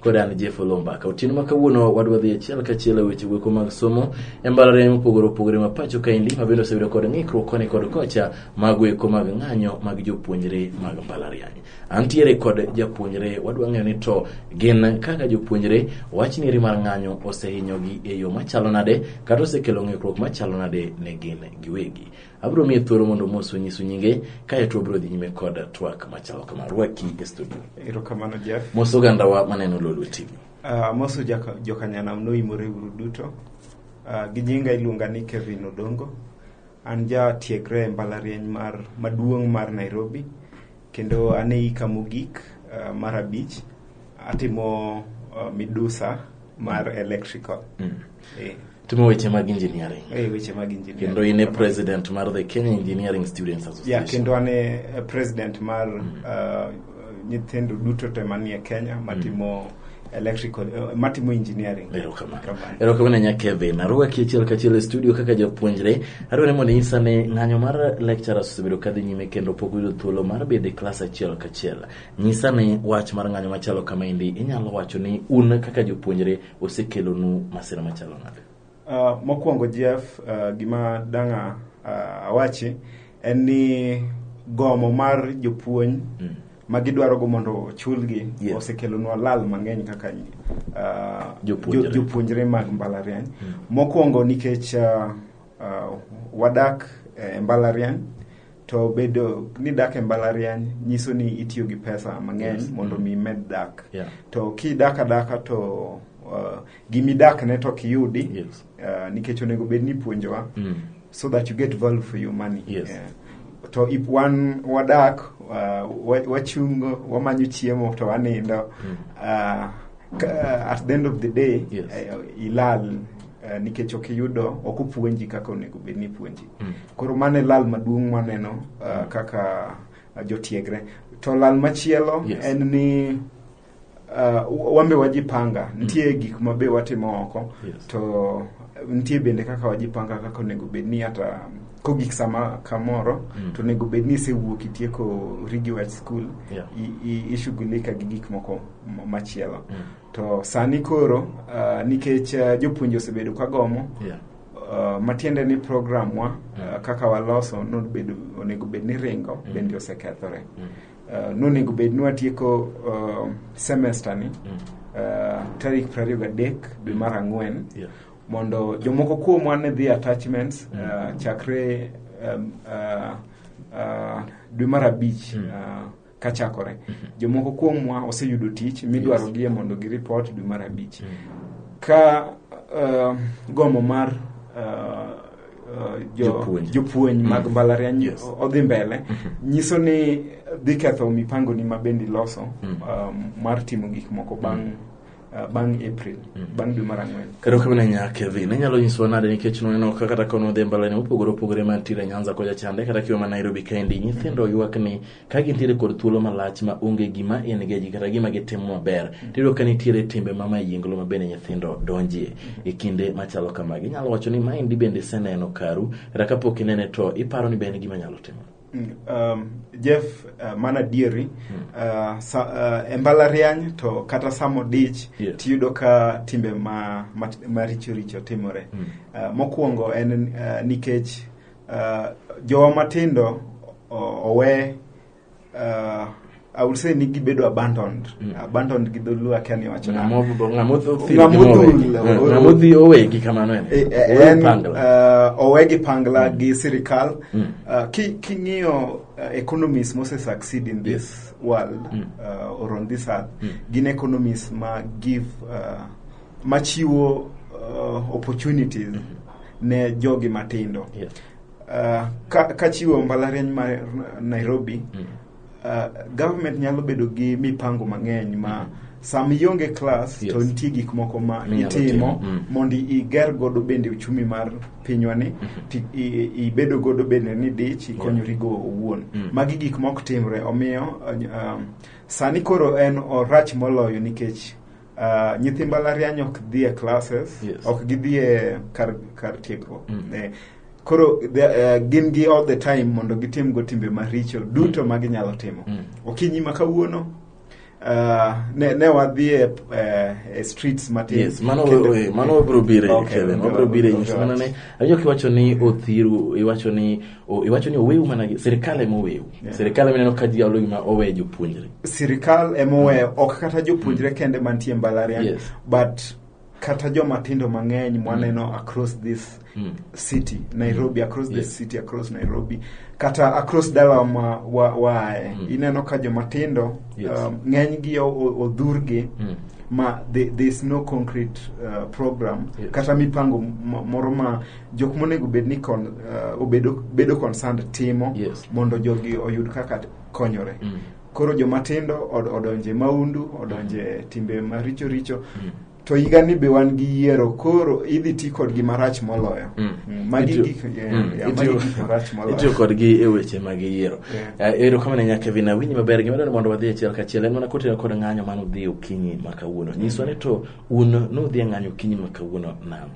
Kod an Jeff Olombaka. Otieno ma kawuono wadwa dhi achiel kachiel e weche weko mag somo e mbalariany mopogore opogore ma pacho kaendi mabende osebedo kod ng'ikruok koni kod kocha mag weko mag ng'anyo mag jopuonjre mag mbalariany. Antiere kod japuonjre wadwa ng'eyo ni to gin kaka jopuonjre wach nieri mar ng'anyo osehinyogi e yo machalo nade kata osekelo ng'ikruok machalo nade ne gin giwegi. Abiro miye thuolo mondo mos onyisu nyinge, kae to obiro dhi nyime kod twak machalo kama. Rwaki e studio. Erokamano Jeff. Mos ogandawa maneno Lolwe TV. Uh, moso jaka- jokanyanam noimore uru duto uh, gi nyinga iluonga ni kevin odongo an jatiegre e mbalariany mar maduong' mar nairobi kendo an e ika mogik uh, mar abich atimo uh, midusa mar electrical Mm. eh. timo weche mag engineering e weche mag engineering kendo in e president mar the Kenya Engineering Students Association yeah, kendo an e president mar mm. uh, nyithindo duto te manie Kenya mm. matimo mm. electrical uh, matimo engineering erokamano nya Kevin aruwa kiachiel kachiel e studio kaka japuonjre adwa ni mondo inyisa ni ng'anyo mar lecturers osebedo kadhi nyime kendo pok yudo thuolo mar bedo e klas achiel kachiel nyisa ni wach mar ng'anyo machalo kama endi inyalo wacho ni un kaka jopuonjre osekelonu masira machalo nade? Uh, mokwongo Jeff, uh, gima danga uh, awachi en ni gomo mar jopuonj mm. ma gidwarogo mondo ochulgi yeah. osekelonwa lal mang'eny kaka uh, jopuonjre. jopuonjre mag mbalariany mm. mokwongo nikech uh, uh, wadak e eh, mbalariany to bedo ni dak e mbalariany nyiso ni itiyo gi pesa mang'eny yes. mondo mm. mi imed dak yeah. to kidak adaka to uh, gimidak ne to kiyudi yes. uh, nikech onego bed ni puonjowa mm. so that you get value for your money yes. yeah. to if wan wadak uh, wachungo wamanyo chiemo to wanindo mm. uh, uh, at the end of the day yes. uh, ilal uh, nikech ok iyudo ok opuonji kaka onego bed ni ipuonji mm. Koro mano e lal maduong' mwaneno uh, kaka uh, jotiegre. To lal machielo yes. en ni uh, wambe wajipanga mm. nitie mm. gik mabe watimo oko yes. to nitie bende kaka wajipanga kaka onego bed ni hata kogik sama kamoro mm. to onego bed ni isewuok itieko rigi wach skul yeah. ishughulika gi gik moko machielo mm. to sani koro uh, nikech uh, jopuonje osebedo kagomo yeah. Uh, matiende ni program wa uh, kaka waloso nobedo onego bed ni ringo mm. bende osekethore mm. uh, nonego bed ni watieko uh, semester ni mm. uh, tarik prariyo gadek dwe mar ang'wen yeah. mondo jomoko kuomwa ne dhi attachments mm. uh, chakre um, uh, uh, dwe mar abich mm. uh, ka chakore jomoko kuomwa oseyudo tich midwarogie mondo giripot dwe mar abich ka uh, gombo mar uh, uh, jo- Jopuonj. jopuonj mag Mm. mbalariany Yes. o- odhi mbele nyiso ni dhi ketho mipangoni ma bende iloso Mm. um, mar timo gik moko bang' Uh, bang' April, mm. bang' dwe mar ang'wen. Kata ok bina nyake dhi, ne nyalo nyisowa nade nikech noneno ka kata kono dhi mbala ne opogore opogore ma tire Nyanza koja chande kata kiwa ma Nairobi kaendi nyithindo ywak ni ka gintiere kod thuolo malach ma onge gima en geji kata gima gitimo maber mm. tiyudo ka nitiere timbe ma mayinglo ma bende nyithindo donjie mm. e kinde machalo kamagi. Inyalo wacho ni maendi bende iseneno karu kata kapok inene to iparo ni be en gima nyalo timo. um, Jeff uh, mana dieri uh, sa, uh, e mbalariany to kata samo dich Yes. tiyudo ka timbe ma, ma, maricho richo timore Mm. uh, mokwongo en uh, nikech uh, jowa matindo o- owe uh, I would say ni gibedo abandoned mm. abandoned gi dholuo akia ni wacho ng'amodhi eh, owegi kamano en eh, eh, uh, owegi pangla mm. gi sirikal mm. uh, king'iyo uh, economies mose succeed in this world mm. uh, or on this earth mm. gin economies ma give uh, machiwo uh, opportunities mm -hmm. ne jogi matindo yes. uh, ka, ka chiwo mbalariany mar nairobi mm. Uh, government nyalo bedo gi mipango mang'eny ma mm -hmm sama ionge klas yes. to nitie gik moko ma itimo mm. mondo iger godo bende uchumi mar pinywani mm-hmm. ibedo godo bende ni dich ikonyorigo yeah. owuon mm. magi gik ma ok timre omiyo um, sani koro en orach moloyo nikech Uh, nyithi mbalariany ok dhi e classes yes. ok gidhi e kar, kar tiegruok mm. eh, koro the, uh, gin gi all the time mondo gitim go timbe maricho duto mm. ma ginyalo timo mm. okinyi ma kawuono Uh, ne, ne wadhi e, eh, e streets matin yes, mano wabro bire okay, kevin wabro bire nyiso mana ne awinjo kiwacho ni othiru iwacho ni iwacho ni oweu mana gi sirikal ema oweu yeah. sirikal ema neno ka ji olo gima owe jopuonjre sirikal ema oweyo mm. ok kata jopuonjre mm. kende mantie mbalariany yes. but kata joma tindo mang'eny mwaneno mm. across this mm. city nairobi across yes. the city across nairobi kata across dala ma wa, wae mm. ineno ka joma tindo yes. um, ng'enygi odhurgi mm. ma there is no concrete uh, program yes. kata mipango moro ma jok monego bed ni kon, uh, obedo, bedo concerned timo Yes. mondo jogi oyud kaka t- konyore Mm. koro jomatindo od, odonje maundu odonje timbe maricho richo Mm. to higani be wan gi yiero koro idhi ti kodgi marach moloyo Mm. Mm, magi Itiyo- gik yeah, Mm, yeah, magi itiyo- gik marach itiyo moloyo kodgi e weche mag yiero Yeah. Eh, ero kamano nya kevin awinji maber gima dwaro ni mondo wadhi achiel kachiel en mana kotenore kod ng'anyo mane udhi okinyi ma kawuono nyiswa ni to un nudhi e ng'anyo okinyi ma kawuono nam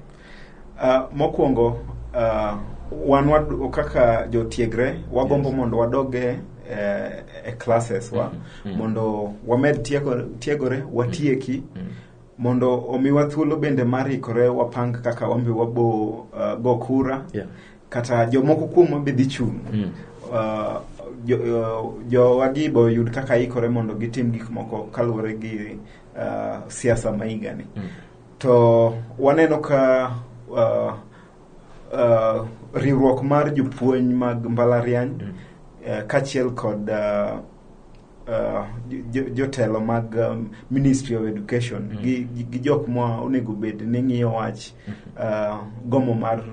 Uh, mokwongo uh, wan wad, kaka jotiegre wagombo yes. mondo wadoge eh, e classes wa mm -hmm. mondo wamed tiegore, tiegore watieki mm -hmm mondo omiwa thuolo bende mar ikore wapang kaka wambi wabo uh, go kura yeah. kata jomoko kuomwa be dhi chung' mm. uh, jowagi jo boyud kaka ikore mondo gitim gik moko kaluwore gi uh, siasa ma higani mm. To waneno ka uh, uh, riwruok mar jopuonj mag mbalariany mm. uh, kachiel kod uh, uh, jotelo jo mag um, Ministry of Education mm. gi, gi jok ma onego bed ni ng'iyo wach mm. uh, gomo mar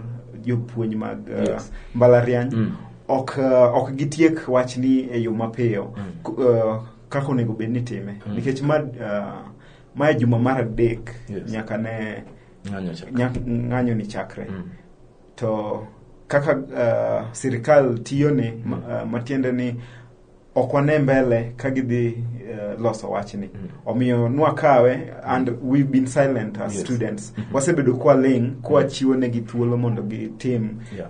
jopuonj mag uh, yes. mbalariany mm. ok, uh, ok gitiek wachni e yo mapiyo mm. uh, kaka onego bed ni time mm. nikech ma uh, mae juma mar adek yes. nyaka ne ng'anyo ni chakre mm. to kaka uh, sirikal tiyo ni mm. uh, matiende ni ok wane mbele ka gidhi uh, loso wachni mm. omiyo nwakawe and we've been silent as yes. students mm -hmm. wasebedo kwa ling kwa mm. chiwo negi thuolo mondo gitim yeah.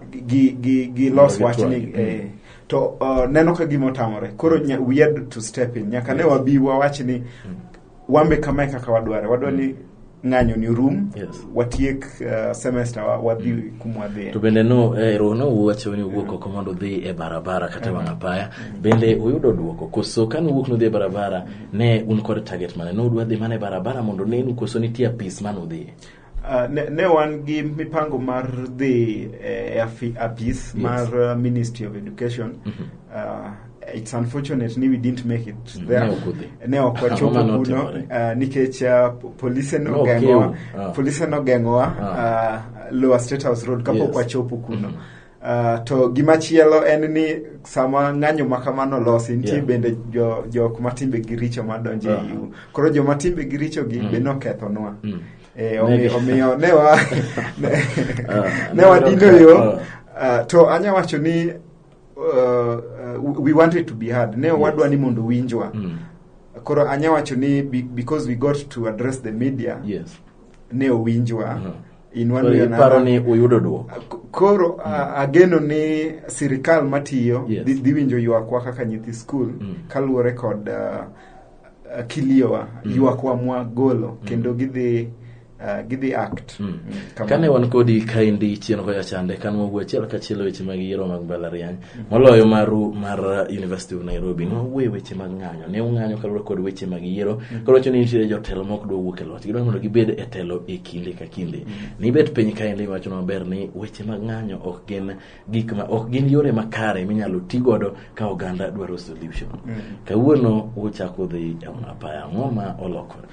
gilos gi, gi wachni mm. eh, mm to uh, neno ka gima otamore koro we had to step in nyaka ne wabi wawach ni wambe kama e kaka wadware wadwa ni mm. ng'anyo ni rum yes. watiek uh, semester wadhi mm. kumwadhie to bende no eh, ero no uwacho ni uwuok oko mondo udhi e barabara kata mm. wang'a paya mm. bende uyudo duoko koso kane uwuok nudhi e barabara ne un kod target mane nodwa dhi mana e barabara mondo nenu koso nitie apis mane udhiye Uh, ne, ne wan gi mipango mar dhi eh, e afi- apis Yes. mar uh, ministry of education uh, it's unfortunate ni we didn't make it Mm, there ne ok udhi. ne ok Ang'o wachopo mane kuno otimore? uh, nikech uh, po- polise Ne ok nogeng'owa eu. Ah. polise nogeng'owa Ah. uh, lower state house road kapok Yes. wachopo kuno Uh, to gimachielo en ni sama ng'anyo ma kamano losi nitie yeah. bende jo, jok ma timbegi richo madonjo uh -huh. iu uh-huh. koro joma timbegi richo gi mm. be nokethonwa mm. e, omiyo, omiyo ne wa ne, uh, ne wadino yo uh. uh, to anya wacho ni uh, uh, we wanted to be heard ne yes. wadwa ni mondo winjwa mm. koro anya wacho ni because we got to address the media yes. ne owinjwa uh -huh. in one way or another. Iparo ni uyudo duoko. Koro a- ageno ni sirikal matiyo Yes. dhi dhi winjo ywakwa kaka nyithi skul Mm. kaluwore kod ah, ah, kiliowa Mm. ywakwa mwagolo kendo gidhi ah, gidhi act Mm. Mm, kamano. Kane wan kodi kaendi chien kocha chande kan wawuo achiel kachiel e weche mag yiero mag mbalariany moloyo maru mar uh, University of Nairobi ne wawuoye weche mag ng'anyo ne ung'anyo kaluwore kod weche mag yiero mm. koro wacho ni nitiere jotelo ma ok dwa wuok e loch gidwa mondo gibed e telo e kinde ka kinde mm. nibet piny ka endi wacho maber ni weche mag ng'anyo ok gin gik ma ok gin yore makare minyalo ti godo ka oganda dwaro solution mm. kawuono uchako dhi e apaya ang'o ma olokore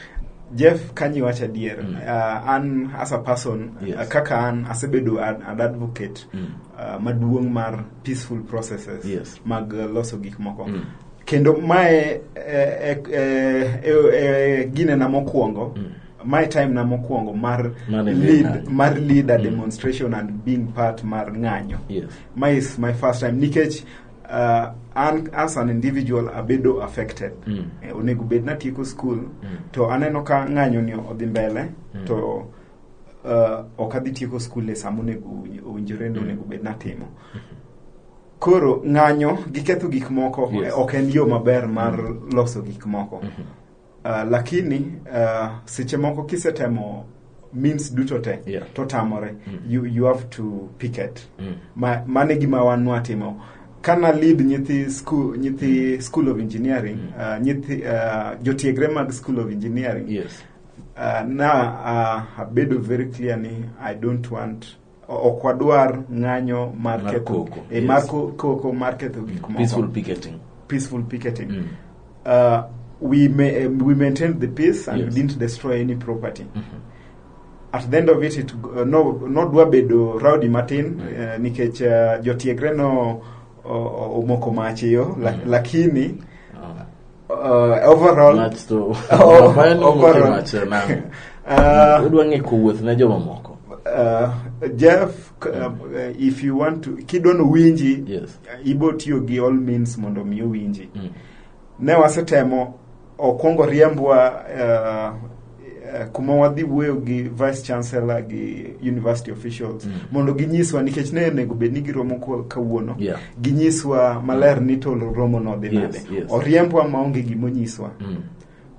Jeff Kanyi wacha dier mm. uh, an as a person yes. uh, kaka an asebedo an, an advocate mm. uh, maduong' mar peaceful processes yes. mag uh, loso gik moko mm. kendo mae eh, eh, eh, gine na mokwongo mm. my time na mokwongo mar lead, mar leader mm. demonstration and being part mar ng'anyo yes. my is my first time nikech uh, an as an individual abedo affected mm. eh, onego bed natieko school mm. to aneno ka ng'anyo ni odhi mbele mm. to uh, ok adhi tieko skul e sama onego owinjore ni mm. onego bed natimo koro ng'anyo gi ketho gik moko yes. ok en yo maber mar mm. loso gik moko mm -hmm. uh, lakini uh, seche moko kisetemo means duto te yeah. to tamore mm. you, you have to picket mm. ma, mane gima wan watimo kana lead nyithi school nyithi mm. school of engineering mm. uh, nyithi uh, jotiegre mag school of engineering yes Uh, na uh, abedo very clear ni i don't want ok wadwar ng'anyo mar Mar ketho koko, eh, mar yes. ko- koko mar ketho gik moko peaceful picketing peaceful picketing Mm. uh, we may, um, we maintained the peace and Yes. we didn't destroy any property at the end of it, it uh, no nodwa bedo rowdy matin uh, nikech uh, jotiegre no o- o- omoko mach iyo la, lakini Ah. Uh, overall Nats to Oh, Bayern ni overall. motelo achiel nang'. uh, Udwa ng'e kowuoth ne jomamoko. uh, Jeff k- uh, if you want to kidwano winji Yes. ibo tiyo gi all means mondo mi owinji Mm. ne wasetemo okwongo riembwa uh, Eh, kuma wadhi wuoyo gi vice chancellor gi university officials mm. mondo ginyiswa nikech ne onego bed ni giromo kawuono yeah. ginyiswa maler ni to romo no dhi nade yes, yes. oriembwa maonge gimonyiswa mm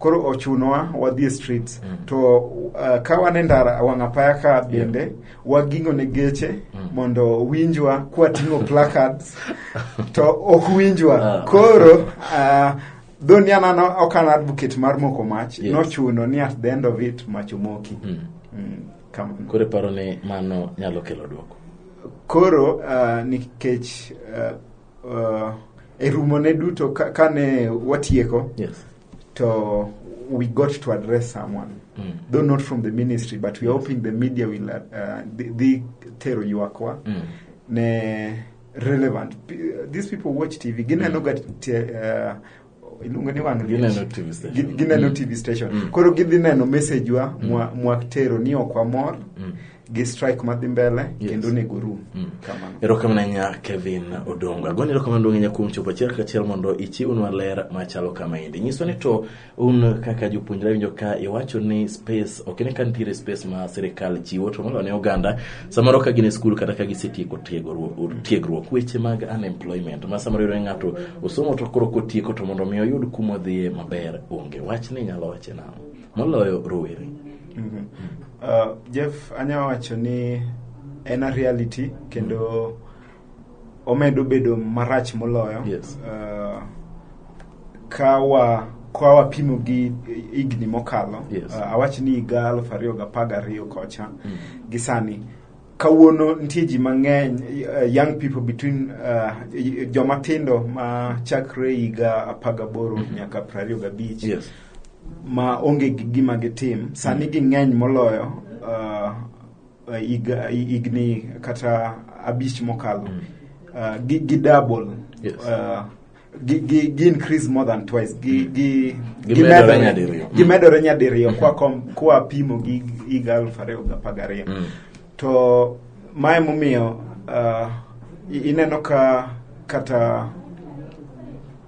koro ochunowa wadhi e streets mm. to uh, ka wan e ndara wang' apaya ka bende yeah. waging'o ne geche mm. mondo winjwa kwating'o placards to ok winjwa ah. koro uh, Though ni an ok an advocate mar moko mach, yes. nochuno ni at the end of it mach omoki. Mm. Mm, Koro paro ni mano nyalo kelo duoko. Koro uh, nikech uh, uh, e rumo ne duto kane ka ne watieko yes. to we got to address someone mm. though not from the ministry but we are hoping the media will uh, dhi tero ywakwa mm. ne relevant P- these people watch tv gineno ga te- eh, iluongo ni wang' liech. Gineno TV station. Gi- gineno tv station Mm. koro gidhi neno message wa mwa- mwaktero ni ok wamor Mm. gi strike madhi mbele Yes. kendo nego rum Mm. kamano erokamano ahinya kevin odongo agoni erokamano duong' ahinya kuom chopo achiel kachiel mondo ichiwnwa ler machalo kama endi nyiswa ni to un kaka jopuonjre winjo ka iwacho ni space ok ne ka nitiere space ma sirikal chiwo to moloyo ne oganda samoro ka gin e skul kata ka gisetieko tiegruok tiegruok weche mag unemployment ma samoro yudore ng'ato osomo to koro kotieko to mondo mi oyud kuma odhiye maber onge wach ni inyalo wache nang'o moloyo rowere Mhm. Uh, Jeff, anya wacho ni en a reality kendo omedo bedo marach moloyo yes. uh, kawa kwa wapimo gi higni mokalo yes. uh, awach ni higa aluf ariyo gi apar gariyo kocha mm. gi sani kawuono nitie ji mang'eny uh, young people between uh, joma tindo ma chakre higa apar gaboro mm -hmm. nyaka prariyo gabich yes. ma onge gi gima gitim sani mm. ging'eny moloyo uh, higni kata abich mokalo mm. uh, gi, gi double yes. uh, gi, gi, gi increase more than twice gi, mm. gi, gi, gi medore nyadiriyo gi mm. medore nyadiriyo kwa, kom, kwa pimo gi higa aluf ariyo gi apar gariyo mm. to mae momiyo uh, ineno ka kata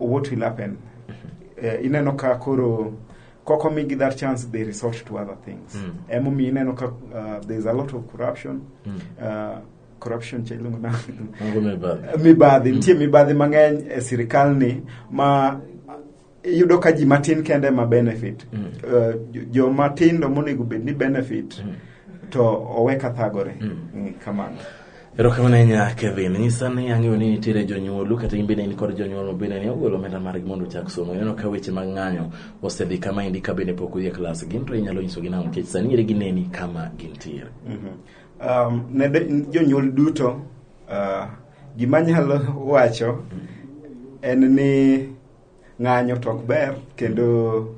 what will happen eh, ineno ka koro koko migi that chance they resort to other things Mm. emomiyo ineno ka uh, there's a lot of corruption Mm. uh, corruption cha iluongo na Mungu mibadhi. mibadhi nitie mibadhi mang'eny e sirikal ni ma iyudo ka ji matin kende ma benefit Mm. Eh, jo- joma tindo monego bed ni benefit Mm. to owe kathagore Mm. Mm, kamano Erokamano ahinya Kevin. Nyisa ni ang'eyo ni nitiere jonyuolu kata in bende in kod jonyuol ma bende ne ogolo omenda margi mondo ochak somo. Ineno ka weche mag ng'anyo osedhi kama endi ka bende pok udhi e klas. Gin to inyalo nyisogi nang'o nikech sani ere gineni kama gintiere. Um, ne de- jonyuol duto uh, gima nyalo wacho en ni ng'anyo to ok ber kendo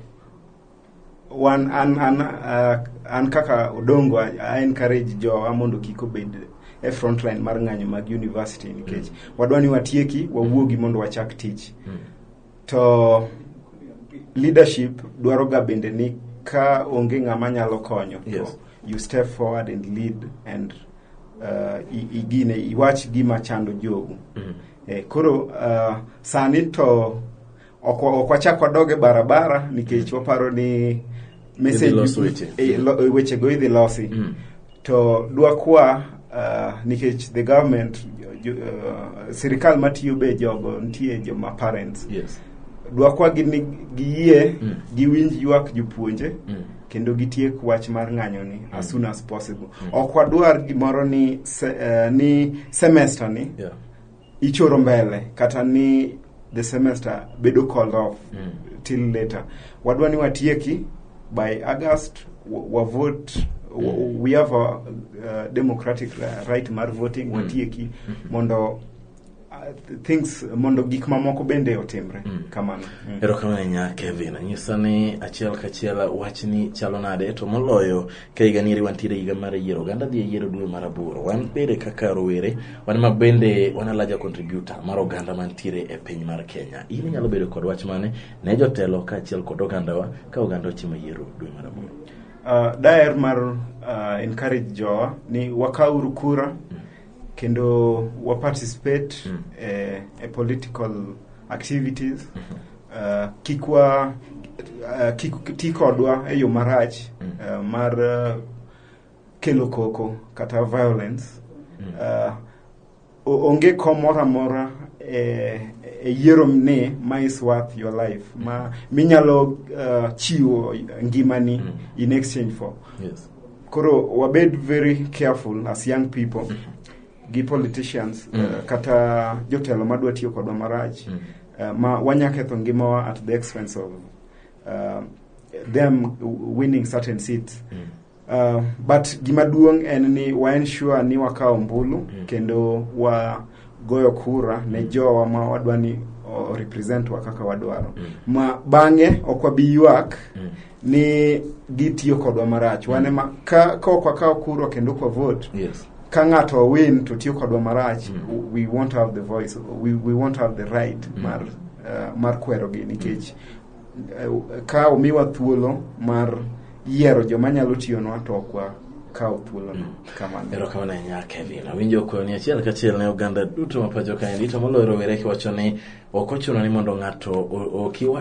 wan an an uh, an kaka odongo I, I encourage jowa mondo kik obed e front line mar ng'anyo mag university nikech wadwa ni watieki wawuogi mondo wachak tich to leadership dwaro ga bende ni ka onge ng'ama nyalo konyo to Yes. you step forward and lead and uh, i- igine iwach gima chando jogu E, koro uh, sani to ok wachak wadog e barabara nikech waparo ni wechego idhi losi mm. to dwakwa uh, nikech the government uh, sirikal matiyo be jogo nitie joma parents yes. dwakwa gini giyie mm. giwinj ywak jopuonje mm. kendo gitiek wach mar ng'anyoni mm. as soon as possible mm. ok wadwar gimoro ni, se, uh, ni semester ni yeah. ichoro mbele kata ni the semester bedo called off Mm. till later wadwa ni watieki by august wa- wavote wa- Mm. we have a uh, democratic ra- right mar voting Mm. watieki mondo uh, th- things mondo gik mamoko bende otimre Mm. kamano Mm. erokamano ahinya kevin anyisa ni achiel kachiel wachni chalo nade to moloyo ka higa nieri wantiere higa mar yiero oganda dhi e yiero dwe mar aboro wan bende kaka rowere wan ma bende wan alaja contributor mar oganda mantiere e piny mar kenya in inyalo bedo kod wach mane ne jotelo kaachiel kod ogandawa ka oganda ochimo yiero dwe mar aboro uh, daer mar uh, encourage jowa ni wakauru kura kendo waparticipate Mm. eh, e political activities uh, kik wa uh, kik ti kodwa e yo marach mm. uh, mar uh, kelo koko kata violence mm. uh, onge kom moro amora e, e yiero ni ma is worth your life mm. ma minyalo uh, chiwo ngimani mm. in exchange for yes. koro wabed very careful as young people mm -hmm. gi politicians mm. uh, kata jotelo madwa tiyo kodwa marach mm. uh, ma wanya ketho ngimawa at the expense of uh, them winning certain seats mm. uh, but gima duong' en ni wa ensure ni wakawo mbulu mm. kendo wa goyo kura ne mm. jowa ma wadwa ni represent wa kaka wadwaro mm. ma bang'e ok wabi ywak mm. ni gitiyo kodwa marach wane ma ka ka ok wakawo kura kendo ok wavote yes ka ng'ato owin to tiyo kodwa marach Mm. we won't have the voice we, we won't have the right Mm. mar uh, mar kwerogi nikech uh, ka omiwa thuolo mar yiero joma nyalo tiyonwa to ok wakaw thuolono Mm. kamano erokamano ahinya kevin awinjo kwayo ni achiel kachiel ne oganda duto ma pacho kaendi to moloyo rowere kiwacho ni ok ochuno ni mondo ng'ato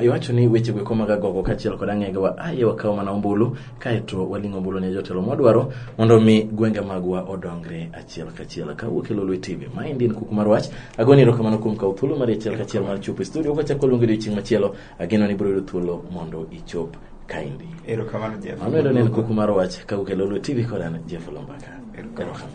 iwacho ni weche gweko mag agogo kaachiel kod ang'egewa aye wakaw mana ombulu kaeto waling' ombulu ne jotelo mwadwaro mondo mi gwenge magwa odongre achiel kachiel kawuok e lolwe tv maendi en kuku mar wach agoni erokamano kuom kawo thuolo mar achiel kachiel mar chopo e studio kachako luongo odiochieng' machielo ageno ni biro yudo thuolo mondo ichop kaendi erokamano jeff mano endo ne en kuku mar wach kawuok e lolwe tv kod an jeff lombaka erokamano